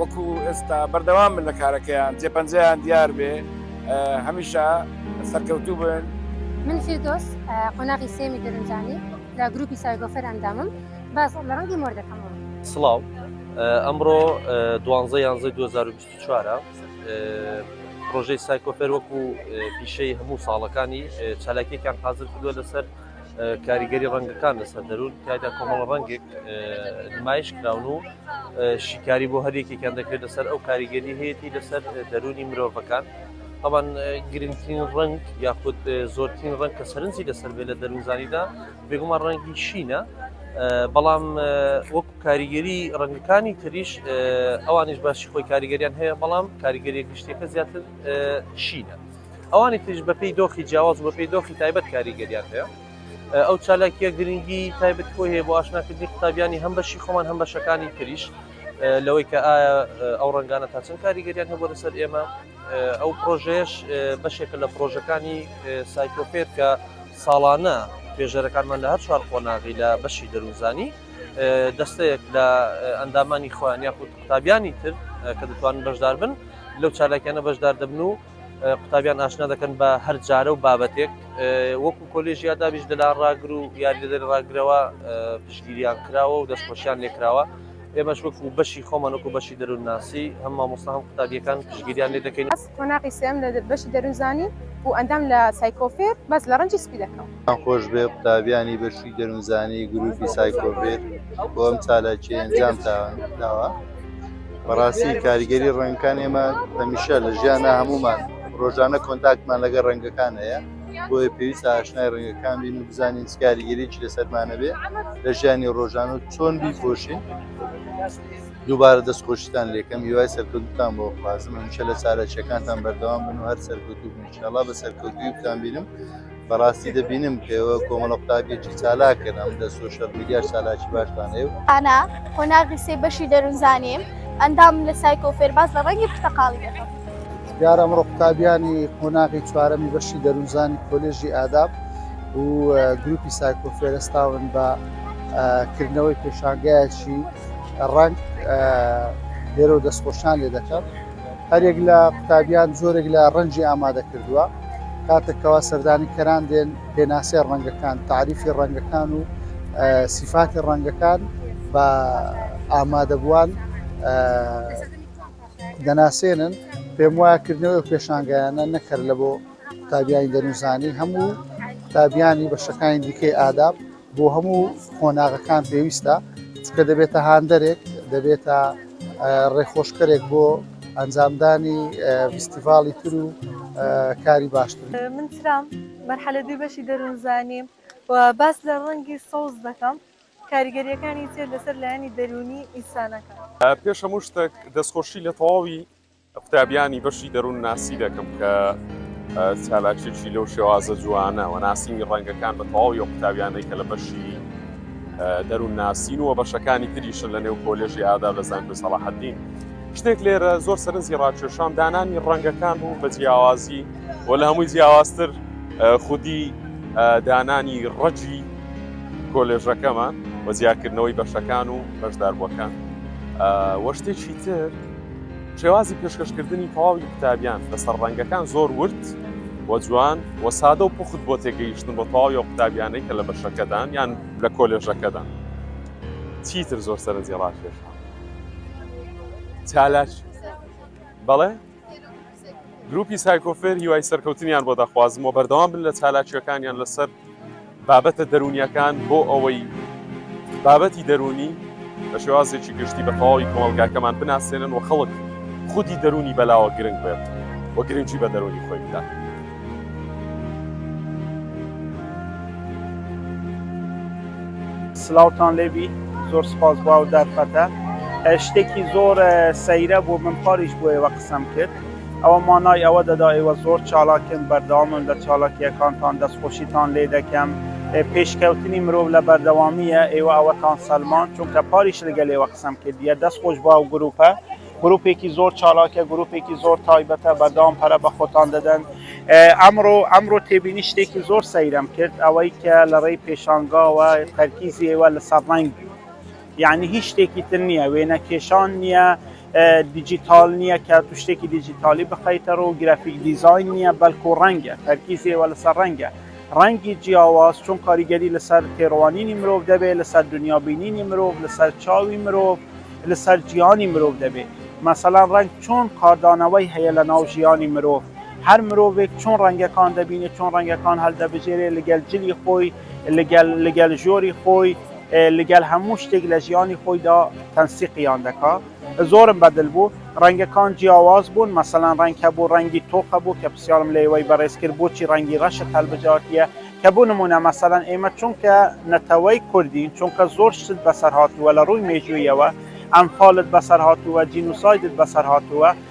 وەکو ئێستا بەردەوام من لە کارەکەیان جێپەنجەیان دیار بێ هەمیشە سەرکەوتوو بن من فیردۆس قۆناغی سێمی دەرنجانی لە گروپی سایگۆفەر ئەندامم باز لە ڕەنگی مۆر دەکەم سڵاو ئەمڕۆ دوانزە یانزە 2024 پرۆژەی سایکۆفەر وەکو پیشەی هەموو ساڵەکانی چالاکیەکان حاضر کردووە لەسەر کاریگەری ڕەنگەکان لەسەر دەروون تایدا کۆمەڵ ڕەنگێک نمایش کراون و شیکاری بۆ هەرێکێکیان دەکرێت لەسەر ئەو کاریگەری هەیەی لەسەر دەرونی مرۆڤەکان طبعاً گرنگترین ڕنگ یاخود زۆرترین ڕنگ کە سەرنجی لەسەر بێ لە دەروزانیدا بێگومان ڕەنگی شینە بەڵام وەک کاریگەری ڕەنگەکانی تریش ئەوانش باشی خۆی کاریگەریان هەیە بەڵام کاریگەری گشتەکە زیاتر شینە. ئەوانی تریش بەپێی دۆخی جیاواز و بەپێی دۆخی تایبەت کاریگەریان هەیە ئەو چالاکیە گرنگی تایبەت خۆی هەیە بۆ ئاشناکردنی قوتابیانی هەم بەشی خۆمان هەم بەشەکانی تریش لەوەی کە ئایا ئەو ڕنگانە تا چەند کاریگەریان هەبوو لەسەر ئێمە ئەو پرۆژەیەش بەشێکە لە پرۆژەکانی سایکۆپێت کە ساڵانە توێژەرەکانمان لە هەر چوار قۆناغی لە بەشی دەروزانی دەستەیەک لە ئەندامانی خۆیان یاخود قوتابیانی تر کە دەتوانن بەشدار بن لەو چالاکیانە بەشدار دەبن و قوتابیان ئاشنا دەکەن بە هەر جارە و بابەتێک وەکو کۆلێژیا دابیش دەلا ڕاگر و یاریدەدەر ڕاگرەوە پشگیریان کراوە و دەستخۆشیان لێکراوە ئێمەش وەکو بەشی خۆمان وەکو بەشی دەروونناسی هەم مامۆستا هەم قوتابیەکان پشگیریان لێ دەکەین قۆناقی سێم لە بەشی دەروونزانی و ئەندام لە سایکۆفێر بەس لە ڕەنجی سپی دەکەم. دەستان خۆشبێ قوتابیانی بەشی دەروونزانی گروپی سایکۆڤیر بۆ ئەم چالاکی ئەنجامتان داوە بەڕاستی کاریگەری ڕەنگەکان ئێمە هەمیشە لە ژیانە هەمومان ڕۆژانە کۆنتاکتمان لەگە ڕەنگەکان هەیە بۆیە پێویست ئاشنای ڕەنگەکان بین و بزانین کاریگەریی لەسەرمانە بێ لە ژیانی ڕۆژان و چۆن بیپۆشین دووبارە دەستخۆشتان لێکەم هیوای سەرکردتان بۆ خوازم هەمیشە لە چارەچەکانتان بەردەوام بن و هەر سەرکوت و بنشاڵا بە سەرکەوتویتان بینم بەڕاستی دەبینم کەوە کۆمەڵە قوتابێکی چالاکن ئەم لە سوۆشەل میدیا چالاکی باشتان هەیە و ئانا قۆناغی سێ بەشی دەروونزانیم ئەندام لە سایکۆ فێرباز لە ڕەنگی پرتەقاڵی دەکەم دیار ئەمڕۆ قوتابیانی قۆناغی چوارەمی بەشی دەروونزانی کۆلێژی ئاداب و گروپی سایکۆ فێرستاون بە کردنەوەی پێشانگایەکی ڕەنگ لێرە دەستخۆشان لێ دەکەم هەریەک لە قوتابیان جۆرێک لە ڕەنجی ئامادە کردووە کاتێک کەوا سەردانی کەران دێن پێناسەی ڕەنگەکان تعریفی ڕەنگەکان و سیفاتی ڕەنگەکان بە ئامادەبووان دەناسێنن پێم وایە کردنەوە پێشانگایانە نەکرد لە بۆ قوتابیانی دەنوزانی هەموو قوتابیانی بەشەکانی دیکەی ئاداب بۆ هەموو قۆناغەکان پێویستە، چونکە دەبێتە هاندەرێک، دەبێتە ڕێخۆشکەرێک بۆ ئەنجامدانی فیستیڤاڵی تر و کاری باشتر. من ترام، مەرحەلە دووی بەشی دەروونزانیم و باس لە ڕەنگی سەوز دەکەم، کاریگەرییەکانی تێر لەسەر لایەنی دەروونی ئینسانەکان. پێش هەموو شتێک دەستخۆشی لە تەواوی قوتابیانی بەشی دەروون ناسی دەکەم کە چالاکێکی لەو شێوازە جوانە و ناسینی ڕەنگەکان بە تەواو یە قوتابیانەی کە لە بەشی دەروون ناسین و بەشەکانی تریشن لە نێو کۆلێژی ئادا لە زانکۆی سەڵاحەدین شتێک لێرە زۆر سەرنجی ڕاکێشان دانانی ڕەنگەکان بوو بە جیاوازی و لە هەمووی جیاوازتر خودی دانانی ڕەجی کۆلێژەکەمان وەزیاکردنەوەی بەشەکان و بەشداربووەکان وە شتێکی تر شێوازی پێشکەشکردنی تەواوی قوتابیان لەسەر ڕەنگەکان زۆر ورد و جوان و سادە و پوخت بۆ تێگەیشتن بۆ تەواوی ئەو قوتابیانەی کە لە بەشەکەدان یان لە کۆلێژەکەدان چیتر زۆر سەرنجی ڕاکێشە چالاکی بەڵێ؟ گروپی سایکۆفێر هیوای سەرکەوتنیان بۆ دەخوازم و بەردەوام بن لە چالاکیەکانیان لەسەر بابەتە دەرونیەکان بۆ ئەوەی بابەتی دەرونی بە شێوازێکی گشتی بە تەواوی کۆمەلگاکەمان بناسێنن و خەڵک خودی دەرونی بەلاوە گرنگ بێت و گرنگی بە دەرونی خۆی بدات. سلاوتان لێبی زۆر سپاس باو دەرفەتە شتێکی زۆر سەیرە بۆ من پاریش بۆیەوە قسەم کرد ئەوە مانای ئەوە دەدا ئێوە زۆر چالاکن بەردەوامن لە چالاکیەکانتان دەستخۆشیتان لێ دەکەم پێشکەوتنی مرۆڤ لە بەردەوامیە ئێوە ئەوەتان سەلماند چونکە پاریش لەگەل ئێوە قسەم کردیە دەست خۆش باو گروپە گروپێکی زۆر چالاکە گروپێکی زۆر تایبەتە بەردەوام پەرە بە خۆتان دەدەن ئەمڕۆ ئەمڕۆ تێبینی شتێکی زۆر سەیرم کرد ئەوەی کە لە ڕێی پێشانگاوە تەرکیزی ئێوە لە سەرڕنگ یەعنی هیچ شتێکی تر نییە، وێنە کێشان نییە، دیجیتاڵ نییە کە تو شتێکی دیجیتاڵی بخەیتەڕوو، گرافیک دیزاین نییە، بەڵکو ڕەنگە، تەرکیزی ئێوە لەسەر ڕەنگە، ڕەنگی جیاواز چۆن کاریگەری لەسەر تێڕوانینی مرۆڤ دەبێت، لەسەر دنیا بینینی مرۆڤ، لەسەر چاوی مرۆڤ، لەسەر جیهانی مرۆڤ دەبێت. مەسەلەن ڕەنگ چۆن کاردانەوەی هەیە لەناو ژیانی مرۆڤ، هەر مرۆڤێک چۆن ڕەنگەکان دەبینێت، چۆن ڕەنگەکان هەڵدەبژێرێت لەگەل جلی خۆی، لەگەل ژۆری خۆی لەگەل هەموو شتێک لە ژیانی خۆیدا تەنسیقیان دەکا زۆرم بەدل بوو ڕەنگەکان جیاواز بوون مەسەلەن ڕەنگ هەبوو ڕەنگی تۆخە بوو کە پرسیارم لە ئێوەی بەڕێز کرد بۆچی ڕەنگی ڕەشت هەلبژاردیە کە بۆ نمونە مەسەلەن ئێمە چونکە نەتەوەی کوردین چونکە زۆر شت بەسەر هاتووە لە ڕووی مێژوویەوە ئەنفالت بەسەر هاتووە جینوسایدت بەسەر هاتووە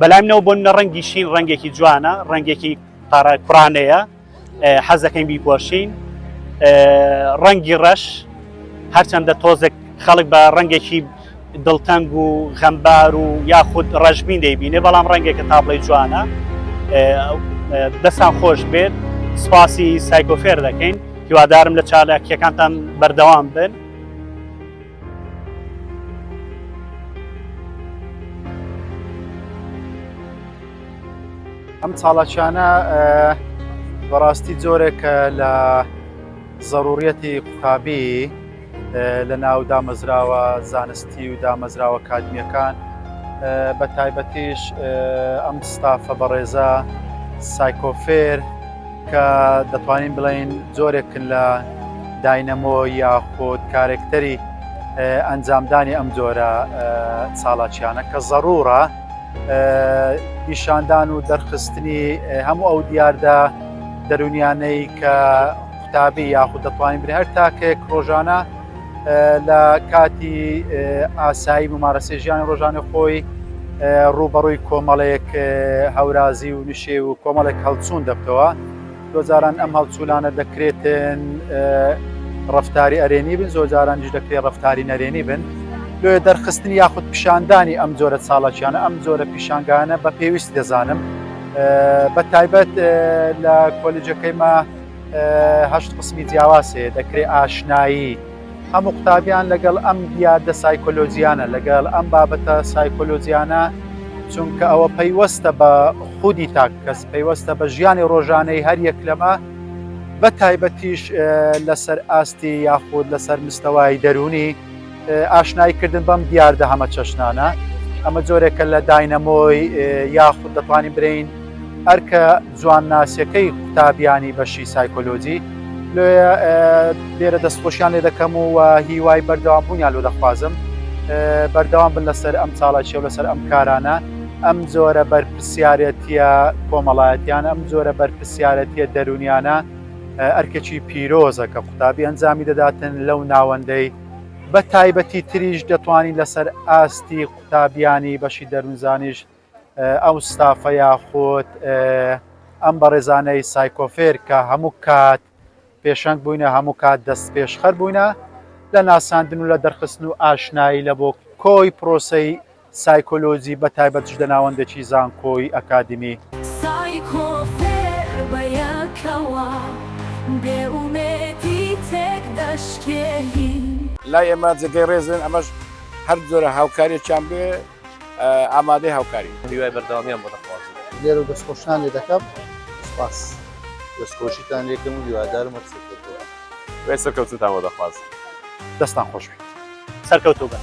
بەلای منەوە بۆ منە ڕەنگی شین ڕەنگێکی جوانە ڕەنگێکی پارە کوڕانەیە حەزەکەین بیپۆشین ڕەنگی ڕەش هەرچەندە تۆزێک خەڵک بە ڕەنگێکی دڵتەنگ و غەمبار و یاخود ڕەژبین دەیبینێ بەڵام ڕەنگێکە تابڵی جوانە دەستان خۆش بێت سپاسی سایکۆفێر دەکەین هیوادارم لە چالاکیەکانتان بەردەوام بن ئەم چاڵاکیانە بەڕاستی جۆرێکە لە زەڕوریەتی قوتابی لە ناو دامەزراوە زانستی و دامەزراوە کاتمیەکان بە تایبەتیش ئەم ستافە بەڕێزە سایکۆفێر کە دەتوانین بڵێین جۆرێکن لە داینەمۆ یاخود کارێکتەری ئەنجامدانی ئەم جۆرە چاڵاکیانە کە زەڕورە پیشاندان و دەرخستنی هەموو ئەو دیاردە دەرونیانەی کە قوتابی یاخود دەتوانین بری هەر تاکێک ڕۆژانە لە کاتی ئاسایی ممارەسەی ژیانی ڕۆژانە خۆی ڕووبەڕووی کۆمەڵێک هەورازی و نشێ و کۆمەڵێک هەڵچوون دەبتەوە دۆجاران ئەم هەڵچوولانە دەکرێتن ڕفتاری ئەرێنی بن زۆجارانیش دەکرێت ڕفتاری نەرێنی بن لێ دەرخستنی یاخود پیشاندانی ئەم جۆرە چاڵکیانە ئەم جۆرە پیشانگانە بە پێویست دەزانم بە تایبەت لە کۆلیجەکەی ما هەشت قسمی جیاواز هەیە دەکرێت ئاشنایی هەموو قوتابیان لەگەڵ ئەم دیادە سایکۆلۆجییانە لەگەڵ ئەم بابەتە سایکۆلۆجییانە چونکە ئەوە پەیوەستە بە خودی تاک کەس پەیوەستە بە ژیانی ڕۆژانەی هەر یەک لەمە بە تایبەتیش لەسەر ئاستی یاخود لەسەر مستەوای دەروونی ئاشنایی کردن بەم دیاردە هەمەچەشنانە ئەمە جۆرێکە لە داینەمۆی یاخود دەتوانین برین ئەرکە جوانناسیەکەی قوتابیانی بەشی سایکۆلۆجی لێە لێرە دەستخۆشیان لێ دەکەم و هیوای بەردەوام بوونیان لۆ دەخوازم بەردەوام بن لەسەر ئەم چاڵاکی و لەسەر ئەم کارانە ئەم جۆرە بەرپسیارەتە کۆمەڵایەتیان ئەم جۆرە بەرپسیارەتە دەرونیانە ئەرکێکی پیرۆزە کە قوتابی ئەنجامی دەداتن لەو ناوەندەی بە تایبەتی تریش دەتوانین لەسەر ئاستی قوتابیانی بەشی دەروونزانیش ئەو ستافە یاخود ئەم بەڕێزانەی سایکۆفێر کە هەموو کات پێشەنگ بووینە هەموو کات دەست پێشخەر بووینە لە ناساندن و لە دەرخستن و ئاشنایی لە بۆ کۆی پرۆسەی سایکۆلۆجی بە تایبەت ژدە ناوەندەکی زانکۆی ئەکادیمی. سایکۆ فێر بە یەکەوە بێ ئومێدی تێک دەشکێین. لای ئێمە جێگەی ڕێزن ئەمەش هەر جۆرە هاوکاریەکیان بێ ئامادەی هاوکارین. هیوای بەردەوامیان بۆ دەخوازم. لێرەو دەست خۆشتان لێ دەکەم سوپاس. دەست خۆشیتان لێ کەم و هیوادارم هەر سەرکەوتوبن. هیوای سەرکەوتنتان بۆ دەخوازم. دەستان خۆش بیت سەرکەوتوبن.